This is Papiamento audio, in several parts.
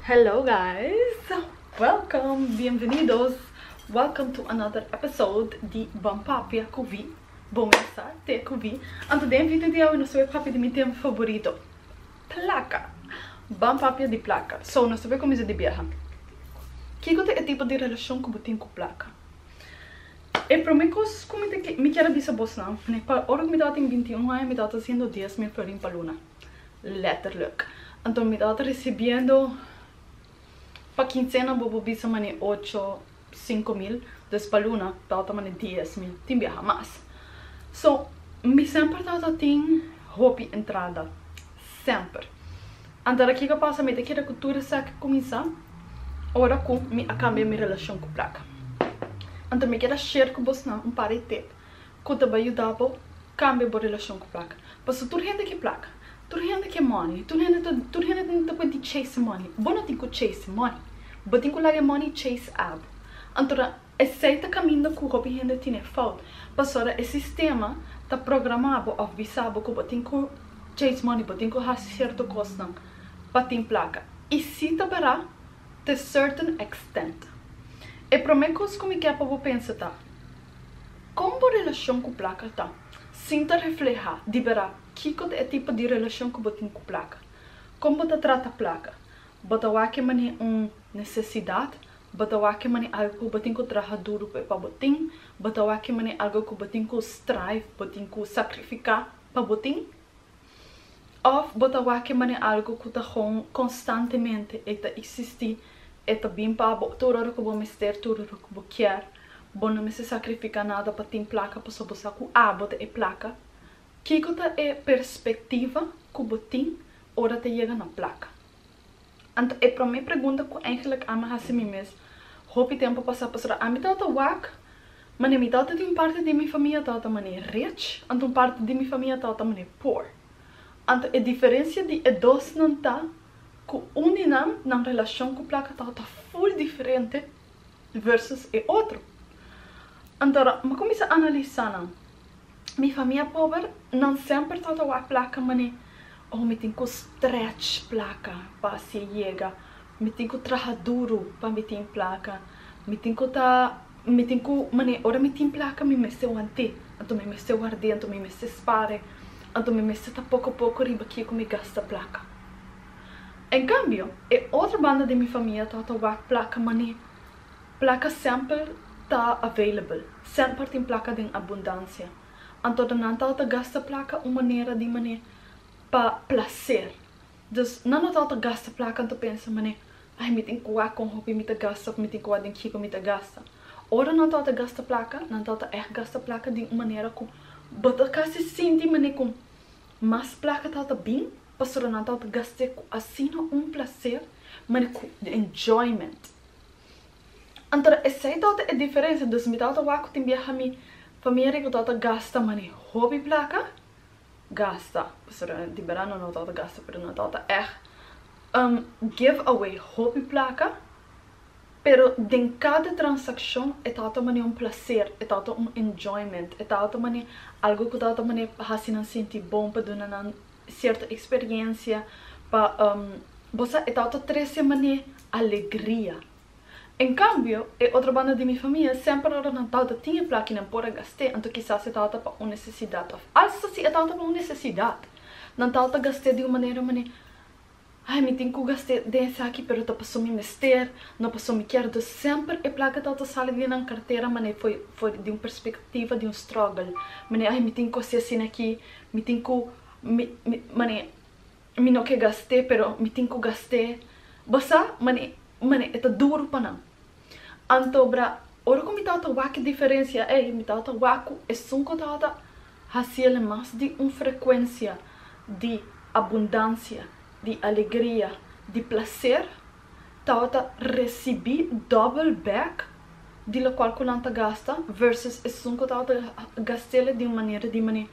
Hello guys! Welcome! Bienvenidos! Welcome to another episode di Bon Papia cu Wie, Bon Mesa Te cu Wie. Anto den video di awe nos ta bai papia di mi tema favorito, placa! Bon papia di placa. So, nos ta bai cuminsa di biaha. Kico ta e tipo di relacion cu bo tin cu placa? E prome cos cu mi kier a bisa bosnan, ne pa ora cu mi tabatin binti un aña mi tabata haciendo dies mil florin pa luna. Letterlijk. Anto mi tabata recibiendo pa quincena bobo bisa mane ocho, cinco mil, dus pa luna tabata mane dies mil, tin biaha mas. So, mi semper tabata tin hopi entrada. Semper. Anto ara kico a pasa, mi ta keda cu tur esaki cuminsa ora cu mi a cambia mi relacion cu placa. Anto mi keda share cu bosnan un par di tip ku ta bai yuda bo kambia bo relashon ku plaka. Paso tur hende ke plaka, tur hende ke money i tur hende ta tur hende ta ta puedi chase money. Bo no tin ku chase money, bo tin ku laga e money chase abo. Antora esei ta kaminda ku hopi hende tine fout, pasora e sistema ta programa bo òf bisa bo ku bo tin ku chase money, bo tin ku hasi sierto kosnan pa tin plaka. I si ta bera te certain extent. E promé kos ku mi ke pa bo pensa ta. Kon bo relashon ku plaka ta? Sin ta reflehá di bera kiko ta e tipo di relashon ku bo tin ku plaka. Kon bo ta trata plaka? Bo ta wak e manera un nesesidat? Bo ta wak e manera algu ku bo tin ku traha duru pa e pa bo tin? Bo ta wak e manera algu ku bo tin ku strive, bo tin ku sakrifiká pa bo tin? Òf bo ta wak man'e algu ku ta hon konstantemente, e ta eksistí, e ta bin pa bo tur ora ku bo mester, tur ora ku bo kier. Bo no mester sakrifiká nada pa tin plaka pasobra bo sa ku abo ta e plaka. Kiko ta e perspektiva ku bo tin ora ta yega na plaka? Anto e prome pregunta ku eingelik ami a hasi mi mes hopi tempu pasa pasobra ami tabata wak, mane mi tabata tin parti di mi famia tabata mane rich, anto un parti di mi famia tabata mane poor. Anto e diferensia di e dosnan ta ku un di nan, nan relashon ku plaka tabata full diferente. versus e otro. Anto a mi cuminsa analisa nan, mi famia pober, nan semper ta ta wak placa manei, oh mi tin cu stretch placa pa haci yega, mi tin cu traha duro pa mi tin placa, mi tin cu ta, mi tin cu manei ora mi tin placa mi mester wanti, anto mi mester wardi, anto mi mester spare, anto mi mester ta poco poco riba kico mi gasta placa. En cambio, e otro banda di mi famia tabata wak placa mani placa semper ta available, semper tin placa den abundancia. Anto ta nan tabata gasta placa un manera di mane pa placer. Dus nan no tabata gasta placa anto pensa mane, ai mi tin cua con hopi mi ta gasta of mi tin cua den kico mi ta gasta. Ora nan tabata gasta placa, nan tabata echt gasta placa di un manera cu bo ta casi sinti mane cu mas placa tabata bin. Pastoranan ta ot gast'é ku asina un plaser, mane ku enjoyment. Anto esei ta ot e diferensia, dus mi ta ot wak ku tin biaha mi famiri ku ta ot gasta mane hopi plaka, gasta, pastoranan di bera no ta ot gasta pero no ta ot eht give away hopi plaka, pero den kada transakshon e ta ot mane un plaser, e ta ot un enjoyment, e ta ot mane algu ku ta ot mane hasi nan sinti bon pa duna nan cierto experiencia pa bo sa e tao ta trece man'e alegria en cambio e otro banda di mi famia semper ora nan tao ta tin e plaki nan por a gaste anto kisas e tao ta pa un necesidad of alsa si e tao ta pa un necesidad nan tao ta gaste di un manera man'e Ai, mi tin cu gast'e den esaki, pero ta paso mi mester, no paso mi kier. Dus semper e placa ta ta sali di nan cartera man'e fo'i fo'i di un perspectiva di un struggle, man'e ai, mi tin cu haci asina aki, mi tin cu mi mi man'e mi no ke gast'e, pero mi tin cu gast'e. Bo sa? Man'e man'e e ta duro pa nan. Anto bra, ora ku mi tabata wak e diferensia ei, mi tabata wak ku esun ku tabata hasi el mas di un frekuensia di abundansia, di alegria, di plaser, tabata resibí dòbel bèk di lokual ku nan ta gasta vèrsùs esun ku tabata gast'é la di un manera di manera,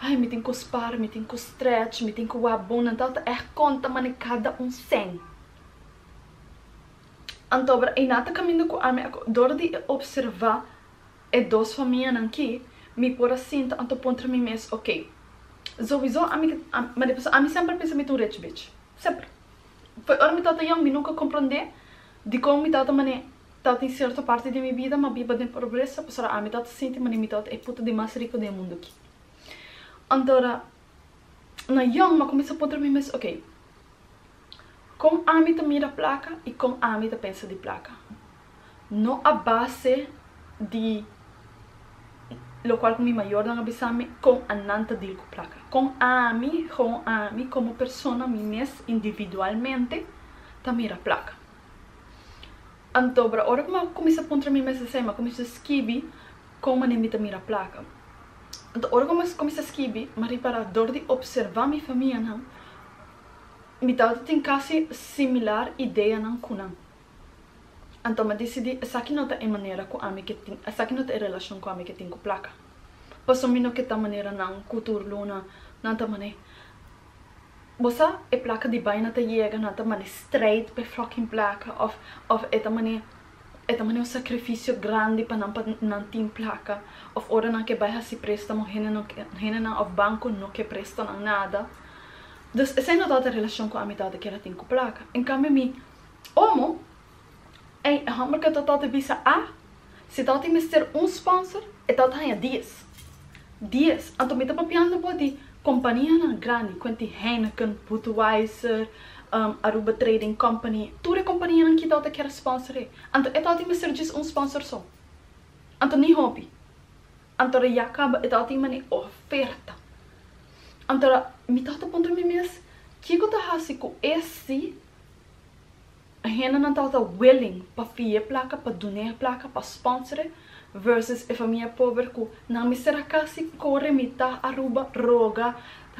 ai, mi tin ku spar, mi tin ku strèch, mi tin ku wak bon. Nan tabata ègt konta manera kada un sèn. Antober Einá ta kaminda ku ami akó. Dor di e opservá e dos famianan ki, mi por a sinta anto puntra mi mes, Okey, zowisó ami ke ta. Ma dipusó ami semper a pensa mi ta un rech bich. Semper. Foi ora mi tabata yòn, mi nunka komprondé dikon mi tabata manera tabata den sierto parti di mi bida ma biba den pobresa, pasobra ami tabata sinti manera mi tabata e puta di mas riko den e mundu aki. Anto na yong ma cuminsa puntra mi mes, ok, con ami ta mira placa y con ami ta pensa di placa? No a base di locual cu mi mayornan a bisa mi con a nan ta deal cu placa, con ami, con ami como persona mi mes individualmente ta mira placa. Anto bra ora cu mi a cuminsa puntra mi mes esey, mi a cuminsa scibi. Kon manera mi ta mira plaka? Anto ora ku mi kuminsá skibi, Marie Pará, dor di opservá mi famianan, mi tabata tin kasi similar ideanan ku nan. Anto mi a disidí, esaki no ta e manera ku ami ke tin, esaki no ta e relashon ku ami ke tin ku plaka. Pasobra mi no ke ta manera nan ku tur luna nan ta man'é. Bo sa, e plaka di bai nan ta yega, nan ta man'é streit pa e fòkin plaka òf, òf e ta man'é E ta mane un sakrifisio grandi pa nan pa nan tin plaka òf ora nan ke bai hasi préstamo hendenan òf banko no ke presta nan nada. Dus esei no tabata relashon ku amidat di kera tin ku plaka. En kambio mi, Omo? Ei, e hòmber ke ta tabata bisa a si tabata mester un spònser, e tabata haña dies. Dies, anto mi ta papiando bo di kompanianan grandi kuenti Heineken, Budweiser, Aruba Trading Company, tur e kompanianan kitao ta kier a sponsor'é. Anto e tawati mester djis un sponsor so? Anto ni hopi? Anto ra ya kaba e tawati mane oferta? Anto ra mi tawata puntra mi mes, Kico ta hasi cu e si? Hendenan tabata willing pa fi'é plaka, pa dun'é plaka, pa sponsore versus e famia pober ku nan mester a kasi kore mitá Aruba, roga,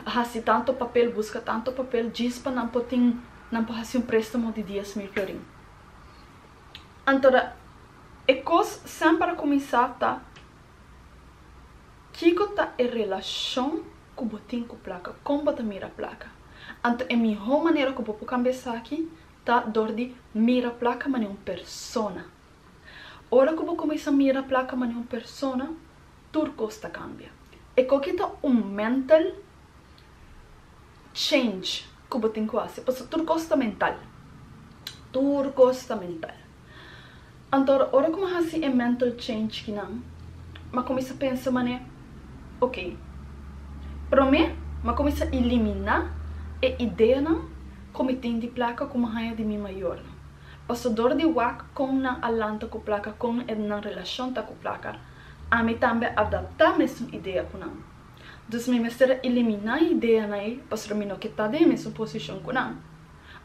hasi tanto papel, buska tanto papel djis pa nan por tin, nan por hasi un préstamo di dies mil florin. Anto da e kos semper a kuminsá ta. Kiko ta e relashon ku bo tin ku plaka? Kon bo ta mira plaka? Anto e mihó manera ku bo por kambia esaki ta dor di mira plaka manera un persona. Ora ku bo kuminsá mira plaka manera un persona, tur kos ta kambia. E koki ta un mental change ku bo tin ku hasi, pasobra tur kos ta mental. Tur kos ta mental. Antor ora ku mi a hasi e mental change kinan, mi a kuminsá pensa manera, Ok, promé mi a kuminsá iliminá e ideanan ku mi tin di plaka ku mi haña di mi mayornan. Pasador di wak kon nan a lanta ku plaka, kon nan relashon ta ku plaka, ami tambe a adaptá mesun idea ku nan. Dus mi mester a iliminá e ideanan ei pasobra mi no ke ta den e mesun posishon ku nan.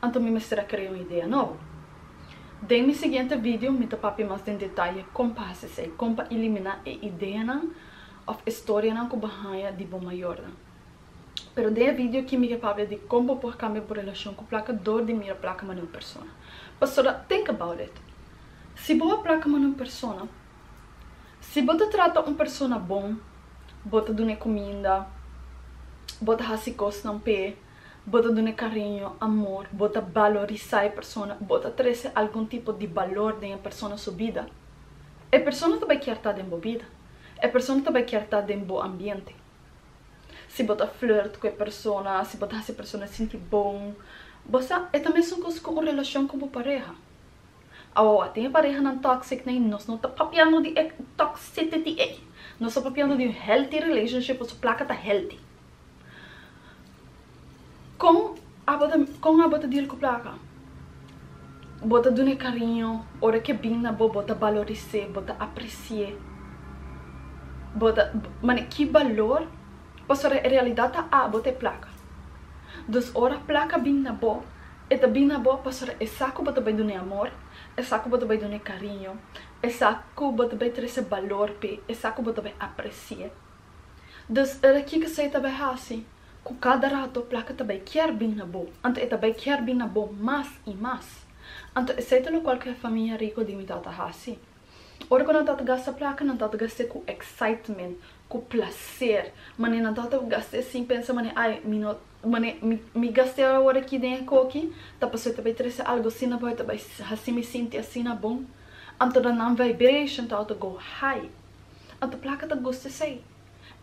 Anto mi mester a krea un idea nobo. Den mi siguiente video mi ta papia mas den detaye kon pa hasi esei, kon pa iliminá e ideanan òf e storianan ku bo a haña di bo mayornan. Pero den e video aki mi ke papia di kon bo por kambia bo relashon ku plaka dor di mira plaka manera un persona. Pasobra tink about it, si bo a plaka manera un persona, si bo ta trata un persona bon, bo ta dun'é kuminda, bo ta hasi kosnan p'é, Bo ta dun'e cariño, amor, bo ta balorisa e persona, bo ta trece algun tipo di balor den e persona su bida. E persona ta bai kier ta den bo bida. E persona ta bai kier ta den bo ambiente. Si bo ta flirt cu e persona, si bo ta haci e persona sinti bon, bo sa, e ta mesun cos cu un relacion cu bo pareha. Awawa, tin e parehanan toxic na y nos no ta papiando di e toxicity ey. Nos ta papiando di un healthy relationship cu su placa ta healthy. Kon kon abo ta deal ku plaka? Bo ta dun'e kariño, ora ke bin na bo bo ta baloris'e, bo ta apresi'e, bo ta mane ki balor pasobra e realidat ta abo t'e plaka. Dus ora plaka bin na bo e ta bin na bo pasobra e sa ku bo ta bai dun'e amor, e sa ku bo ta bai dun'e kariño, e sa ku bo ta bai trese balor p'e, e sa ku bo ta bai apresi'e. Dus ora kiko esei ta bai hasi? Ku kada rato plaka ta bai kier bin na bo, anto e ta bai kier bin na bo mas i mas. Anto esei ta lokual ku e famia riko di mi tata hasi. Ora ku nan tata gasta plaka, nan tata gast'e ku excitement, ku plaser. Mane nan tata ku gast'e sin pensa mane, ai, mi no, mane, mi, mi gast'e awor aki den e koki, ta paso e ta bai trese algu asina bo, e ta bai hasi mi sinti asina bon. Anto nan nan vibration ta ota go high. Anto plaka ta gusta esei?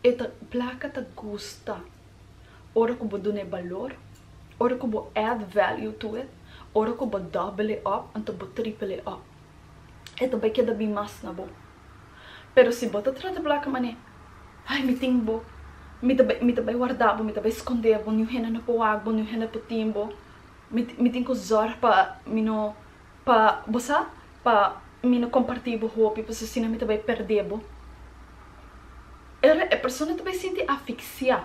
E ta, plaka ta gusta ora ku bo duna e balor, ora ku bo add value to it, ora ku bo double e up, anto bo triple e up. E ta bai keda bin mas na bo. Pero si bo ta trata plaka manera, Ai, mi tin bo, mi ta bai, mi ta bai warda bo, mi ta bai skondé bo, niun hende no por wak bo, niun hende no por tin bo, mi, mi tin ku zòrg pa mi no Pa bo sa pa mi no comparti bo hopi pues asina mi ta bay perde bo. Era e persona ta bay sinti aficsia,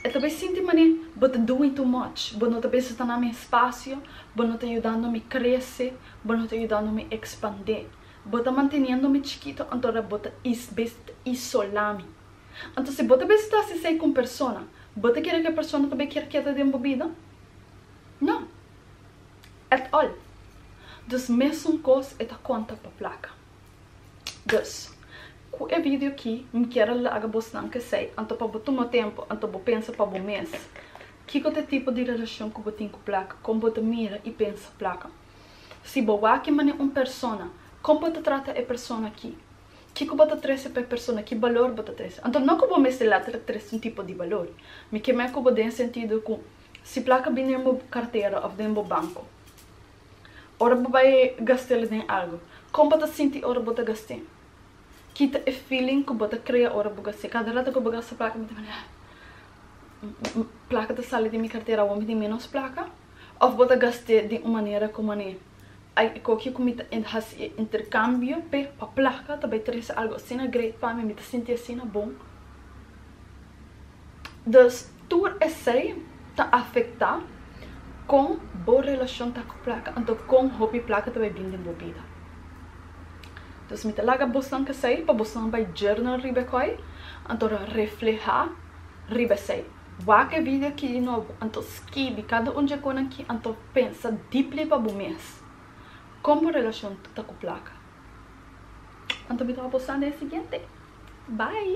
e ta bay sinti mane bo ta doing too much, bo no ta besa ta na mi espacio, bo no ta yudando mi crece, bo no ta yudando mi expande, bo ta manteniendo mi chikito anto ora bo ta besa ta isola mi. Anto si bo ta besa ta haci esey cu un persona, bo ta kere cu e persona ta bay kier keda den bo bida? No. et al. Dus mesun kos e ta konta pa plaka. Dus, ku e video aki mi kier a laga bosnan k'esei, anto pa bo tuma tempu, anto bo pensa pa bo mes, kiko ta e tipo di relashon ku bo tin ku plaka, kon bo ta mira i pensa plaka. Si bo wak e mane un persona, kon bo ta trata e persona aki? Kiko bo ta trese pa e persona, ki balor bo ta trese? Anto no ku bo mester later trese un tipo di balor, mi ke mei ku bo den sentido ku Si plaka bin den bo kartera of den bo banko ora bo bai gast'el den algu, kon bo ta sinti ora bo ta gast'e? Kita e feeling ku bo ta krea ora bo gast'e. Kada rata ku bo gasta plaka bo ta bini ah plaka ta sali den mi kartera awor mi tin ménos plaka? Of bo ta gast'e den un manera ku mane. Ai e kokie ku mi ta hasi e interkambio p'e pa plaka ta bai trese algu asina great pa mi, mi ta sinti asina bon. Dus tur esei ta afektá kon bo relashon ta ku plaka, anto kon hopi plaka ta bai bin den bo bida. Dus mi ta laga bosnan kesei pa bosnan bai journal riba e kòi, anto reflehá riba esei. Wak e video ki di nobo anto skibi kada un dje kon nan ki anto pensa dipli pa bo mes kon bo relashon ta ku plaka anto mi ta hopi bo sande e siguiente bye.